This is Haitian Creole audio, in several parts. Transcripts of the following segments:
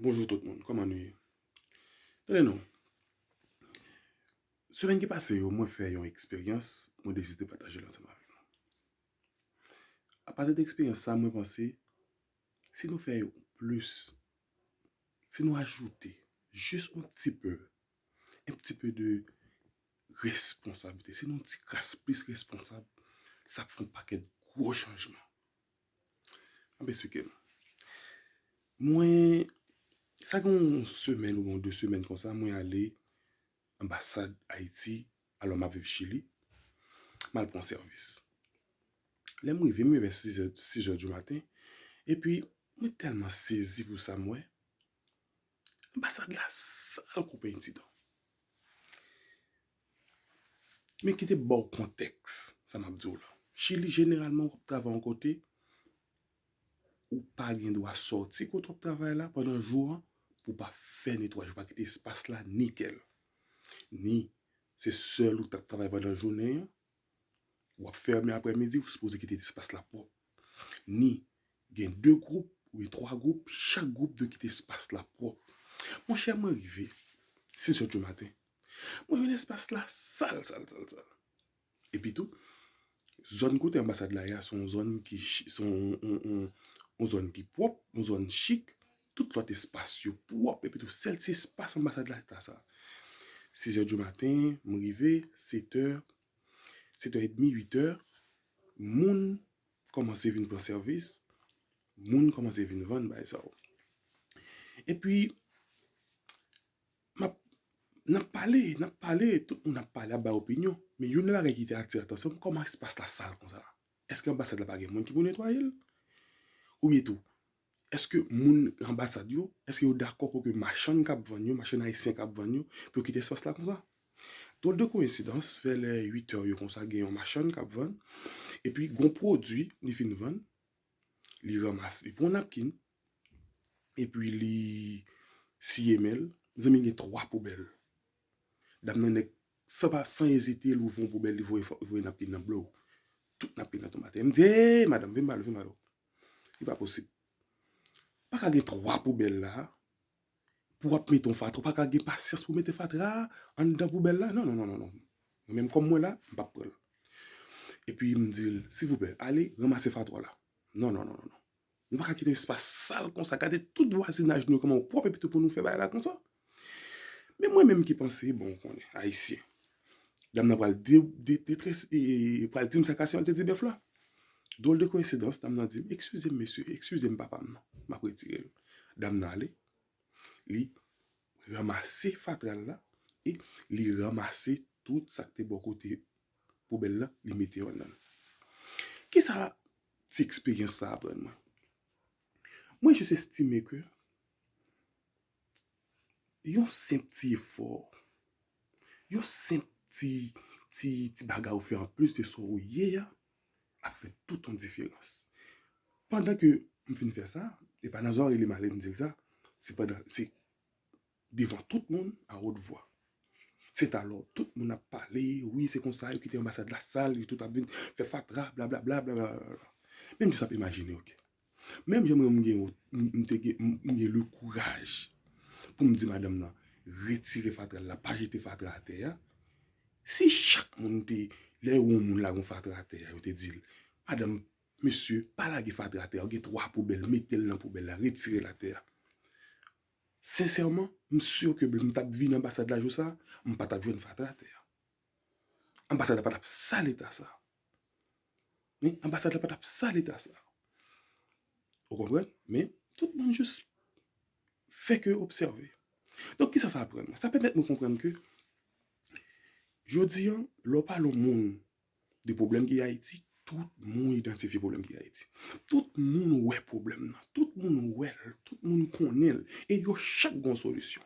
Bonjou tout moun, kòman nou ye? Tande non, semèn ki pase yo mwen fè yon eksperyans mwen deside pataje l ansanm avèk nou. Apati de eksperyans sa mwen panse si nou fè yon plis, si nou ajoute jis yon ti pe, yon ti pe de responsabilite, si nou yon ti kras plis responsab, sa ap fè yon pakèt gwo chanjman. Ap esplike m. Mwen, sa gen yon semèn oubyen yon 2 semèn konsa, mwen ale anbasad Ayiti, alò m ap viv Chili, m al pou yon sèvis. Lè m rive, m rive vè 6 è, 6 è di maten, epi mwen tèlman sezi pou sa m wè, Anbasad la sal kou peny titan. Men kite m ba w kontèks sa m ap di w la. Chili jeneralman w ap travay yon kote, ou pa gen dwa sòti kote w ap travay la pandan jou an pou w pa fè netwayaj, pa kite espas la nikèl. Ni se sèl ou t ap travay pandan jounen an, ou ap fèmen aprè midi, ou sipoze kite espas la pwòp. Ni, gen 2 gwoup, oubyen 3 gwoup, chak gwoup dwe kite espas la pwòp. Mon chè mwen rive, 6 zè di maten, mwen jwenn espas la sal, sal, sal, sal. Epi tou, zòn kote anbasad la ye a, se yon zòn ki, se yon zòn ki pwòp, yon zòn chik, Tout lòt espas yo pwòp epi tou sèl ti espas anbasad la ki ta sa. Sizè di maten, m rive, setè, setè edmi, uitè, moun kòmanse vin pran sèvis, moun kòmanse vin vann bagay sa yo. Epi, n ap pale, n ap pale, tout moun ap pale, ap bay opinyon. Men youn nan bagay ki te atire atansyon m, kòman espas la sal konsa? Èske anbasad la pa gen moun ki pou netwaye l? Oubyen tou, Eske moun anbasad yo, eske yo dakò pou ke machann kap vann yo, machann ayisyen kap vann yo, pou yo kite espas la konsa? Dròl de koyensidans, vè lè 8 è yo konsa gen yon machann kap vann, epi gon pwodui li fin vann, li ranmase, li pran yon napkin, epi li siye men l, mezanmi gen 3 poubèl. Dam nan nèk, san pa, san ezite louvri yon poubèl li voye napkin nan blow! Tout napkin nan tonbe atè. M di, Eey madam, vin ba nou, vin ba nou. Se pa posib. Pa ka gen 3 poubèl la, pou wap mete yon fatra, ou pa ka gen pasyans pou mete fatra anndan poubèl la, non, non, non, non, non. Mwen menm kòm mwen la, m pap pran l. E pi m di l, silvouplè, ale ranmase fatra la. Non, non, non, non, non. Nou pa ka kite espas sal konsa, gade tout vwazinaj nou yo kòman yo pwòp epi tou pou nou fè bagay la konsa. Men mwen menm ki panse, bon ou konnen, Ayisyen. Dam nan pral detrès, pral di m sa k pase antre ti bèf la. Dwòl de koyensidans, dam nan di m, ekskize m mesye, ekskize m papa m nan, m ap retire l. Dam nan ale, li ranmase fatra l la e li ranmase tout sa k te bò kote poubèl la, li mete yo anndan l. Ki sa ti eksperyans sa aprann mwen? Mwen jis estime ke Yon senp ti efò, yon senp ti ti bagay ou fè an plis de sa ou ye a, ap fè tout yon diferans. Pandan ke m fin fè sa, e pa nan zòrèy li m ale m di l sa, se pandan, se devan tout moun a wot vwa. Se ta lò tout moun ap pale, wi se konsa yo kite anbasad la sal, yo tout ap vin fè fatra, blablabla, blablabla. Menm jis ap imajine, oke. Menm jan mwen gen wont, m te gen, m gen le kouraj pou m di madanm nan, retire fatra l la, pa jete fatra atè a. Si chak moun te, lè yo wè yon moun lage yon fatra atè a, yo te di l, madanm, mesye, pa lage fatra atè a, ou gen twa poubèl, mete l nan poubèl la, retire l atè a. Sensèman, m si ke m ta vin anbasad la jou sa a, m pa t ap jwenn fatra atè a. Anbasad la pa tap sa leta sa. Men, anbasad la pa tap sa leta sa. Ou konpren? Men, tout moun jous fè ke obsève. Donk, kisa sa aprann nou? Sa pèmèt nou konprann ke, jodi an, lè w pale yon moun de pwoblèm ki Ayiti, tout moun idantifye pwoblèm ki Ayiti. Tout moun wè pwoblèm nan. Tout moun wè l. Tout moun konnen l. E yo chak gen yon solisyon.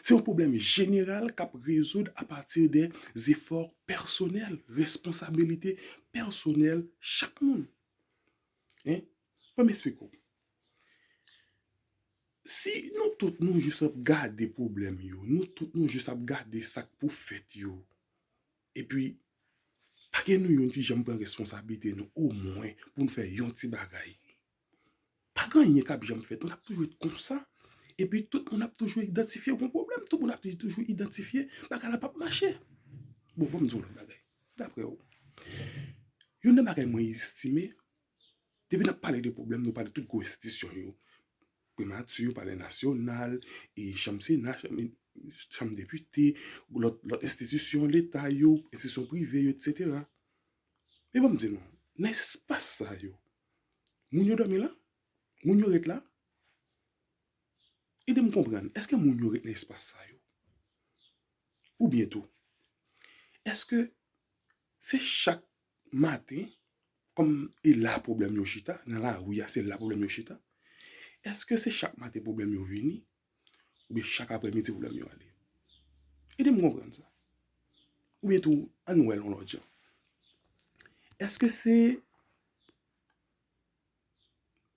Se yon pwoblèm jeneral k ap rezoud apati de zefò pèsonèl, responsabilite pèsonèl chak moun. Ban m esplike w. Si nou tout nou jis ap gade pwoblèm yo, nou tout nou jis ap gade sa k pou fèt yo, epi pa gen nou youn ki janm pran responsabilite nou omwen pou n fè yon ti bagay. Pagen anyen kap janm fèt, nap toujou ret konsa, epi tout moun ap toujou idantifye gon pwoblèm, tout moun ap toujou idantifye bagay la pap mache. Bon banm diw yon bagay, daprè ou, youn nan bagay mwen estime, depi nap pale de pwoblèm nou pale tout gwo enstitisyon yo, primati, palè nasyonal, chanm sena, chanm depite, lòt enstitisyon leta yo, enstitisyon prive yo, etc. Men banm di nou, nan espas sa yo, Moun yo dòmi la? Moun yo ret la? Ede m konprann, èske moun yo ret nan espas sa yo? Oubyen tou, èske se chak maten kòm e la pwoblèm yo chita, nan lari a se la pwoblèm yo chita? Èske se chak maten pwoblèm yo vini? Oubyen chak aprè midi pwoblèm yo ale. Ede m konprann sa. Oubyen tou an nou wè l yon lòt jan. Eske se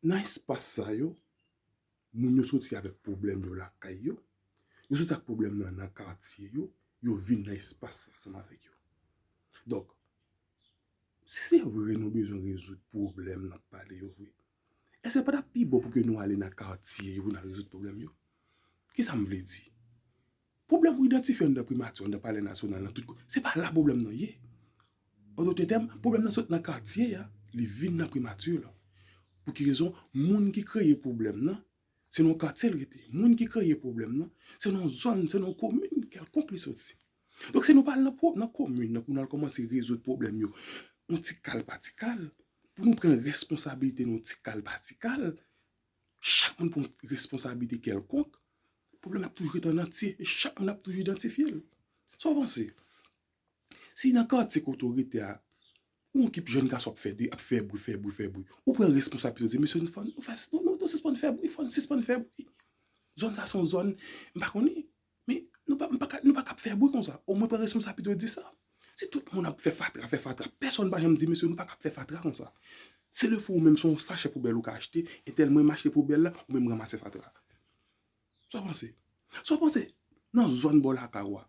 nan espas sa yo moun yo soti avèk pwoblèm yo lakay yo, yo soti ak pwoblèm nan nan katye yo, yo vin nan espas sa ansanm avèk yo. Donk, si se vre nou bezwen rezoud pwoblèm n ap pale yo vre, Èske l pa t ap pi bon pou ke nou ale nan katye yo pou n al rezoud pwoblèm yo? Ki sa m vle di? Pwoblèm pou idantifye anndan Primati, anndan Palè Nasyonal, nan tout kote, se pa la pwoblèm nan ye. An dote tèm, pwoblèm nan sot nan katye a, li vin nan Primati la. Pou ki rezon? Moun ki kreye pwoblèm nan, se nan yon katye l rete, moun ki kreye pwoblèm nan, se nan yon zòn, se nan yon komin kèlkonk li soti. Donk si nou pa al nan pwob, nan komin nan pou nou al kòmanse rezoud pwoblèm yo yon ti kal pa ti kal, pou nou pran responsabilite nou yon ti kal pa ti kal, chak moun pran responsabilite kèlkonk, pwoblèm nan ap toujou ret an antye e chak moun ap toujou idantifye l. Sa w panse? Si nan katye kote ou rete a, yon ekip jèn gason ap fè de, ap fè bri, fè bri, fè bri, ou pran responsabilite ou di, mesye nou fòn, nou fè, nou sispann fè bri, fòn sispann fè bri. Zòn sa son zòn, m pa konnen, men nou pa, m pa ka, nou pa ka ap fè bri konsa. O mwen pran responsabilite ou di sa. Si tout moun ap fè fatra, fè fatra, pèsonn pa janm di, mesye nou pa ka ap fè fatra konsa. Se lè fou ou menm se yon sachè poubèl ou ka achte, etèl mwen m achte poubèl la, ou menm ranmase fatra a. Sa w panse? Sa w panse nan zòn bò lakay ou a,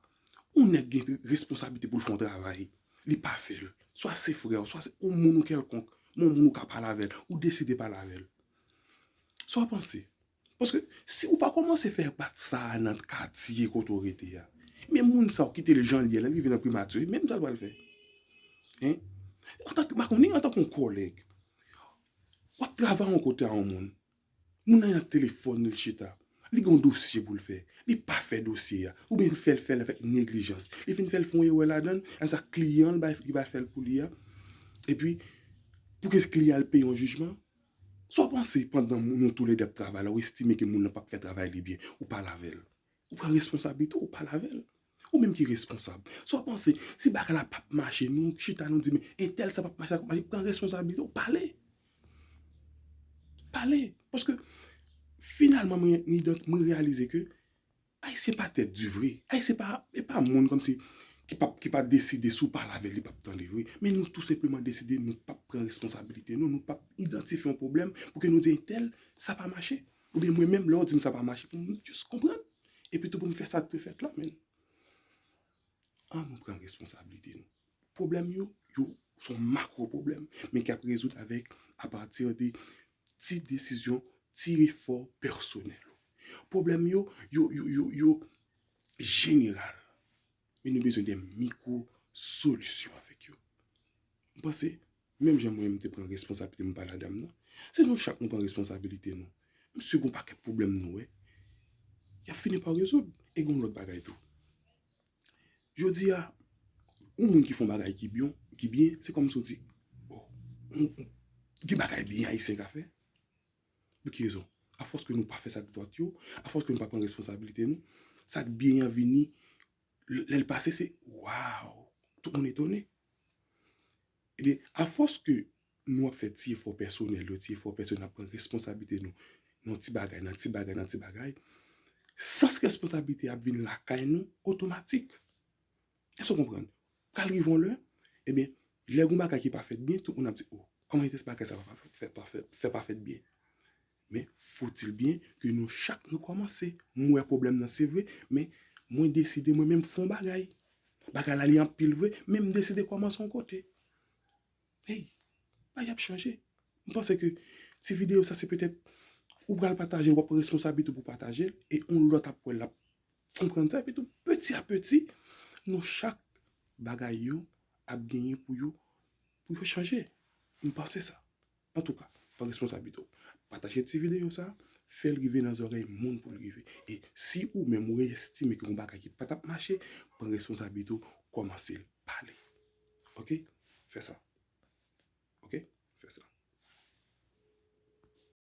yon nèg gen responsablite pou l fè yon travay, li pa fè l, swa se frè w, swa se yon moun ou kèlkonk, yon moun ou ka pale avè l, ou deside pale avè l. Sa w panse? Paske si ou pa kòmanse fè enpak sa a nan katye kote ou rete a, men moun sa a ou kite l jan l ye a, lè l rive nan primati, men sa l pral fè? Hein? Antanke, m pa konnen, antanke yon kòlèg, w ap travay yon kote a yon moun, Moun nan nan telefòn li chita. Li gen yon dosye pou l fè. Li pa fè dosye a. Oubyen li fè l fè l avèk neglijans. Li fin fè l fè yon erè ladan l. Apre sa kliyan l ki bay fè l pou li a. Epi pou ke kliyan al peye yon jijman. Sa w panse pandan nou toule de ap travay la ou estime ke moun nan pa p fè travay li byen. Ou pale avè l. Ou pran responsablite w, ou pale avè l. Ou menm ki responsab. Sa w panse, si bagay la pap mache, nou chita nou di men, entèl sa pap mache, sa pap mache, pran responsabilite w, pale. Pale. Paske, finalman mwen reyalize ke, Ayisyen pa tèt di vre. Ayisyen pa, e pa moun kòm si, ki pap, ki pa deside si w pale avè l, li pap tande vre. Men nou tou senpleman deside nou pap pran responsabilite nou, nou pap idantifye yon pwoblèm pou ke nou di entèl, sa pa mache. Oubyen mwen menm lè w di m sa pa mache pou m just konprann epitou pou m fè sa k dwe fèt la men an nou pran responsablite nou. Pwoblèm yo, yo s on makwo pwoblèm men k ap rezoud avèk apati de ti desizyon, ti efò pèsonèl ou. Pwoblèm yo, yo, yo, yo, yo jeneral. Men nou bezwen de mikwo solisyon avèk yo. M panse, menm jan mwen m te pran responsabilite m pale a dam nan, se nou chak nou pran responsabilite nou. M si gon pakèt pwoblèm nou wè, y ap fini pa rezoud. E gon lòt bagay tou. Jodi a, yon moun ki fè yon bagay ki byon, ki byen, se kòmsi w di, bon, gen bagay byen Ayisyen ka fè. Pou ki rezon? Afòs ke nou pa fè sa k dwat yo, afòs ke nou pa pran responsabilite nou, sa k byen an vini, lè l pase se waw! Tout moun etone. Ebyen, afòs ke nou ap fè ti efò pèsonèl yo, ti efò pèsonèl, n ap pran responsabilite nou nan ti bagay, nan ti bagay, nan ti bagay, sans responsabilite a ap vin lakay nou otomatik. Èske w konprann? Pral rive yon lè, ebyen, lè gen yon bagay ki pa fèt byen, tout moun ap di, o, kòman vitès bagay sa fè pa fèt byen? Men, foutil byen ke nou chak nou kòmanse. M wè pwoblèm nan, se vre, men mwen deside mwen menm fè yon bagay. Bagay la li anpil vre, men m deside kòmanse yon kote. Hey, bagay ap chanje. M panse ke ti videyo sa se petèt ou pral pataje l, w ap pran responsablite w pou w pataje l, e yon lòt ap wè l, l ap Konprann sa epitou peti a peti nou chak bagay yo ap genyen pou yo pou yo chanje. M panse sa. Antouka, pran responsablite w. Pataje ti videyo sa, fè l rive nan zòrèy moun pou l rive. E si ou menm ou estime gen yon bagay ki pa t ap mache, pran responsablite w kòmanse pale. Ok, fè sa. Ok, fè sa.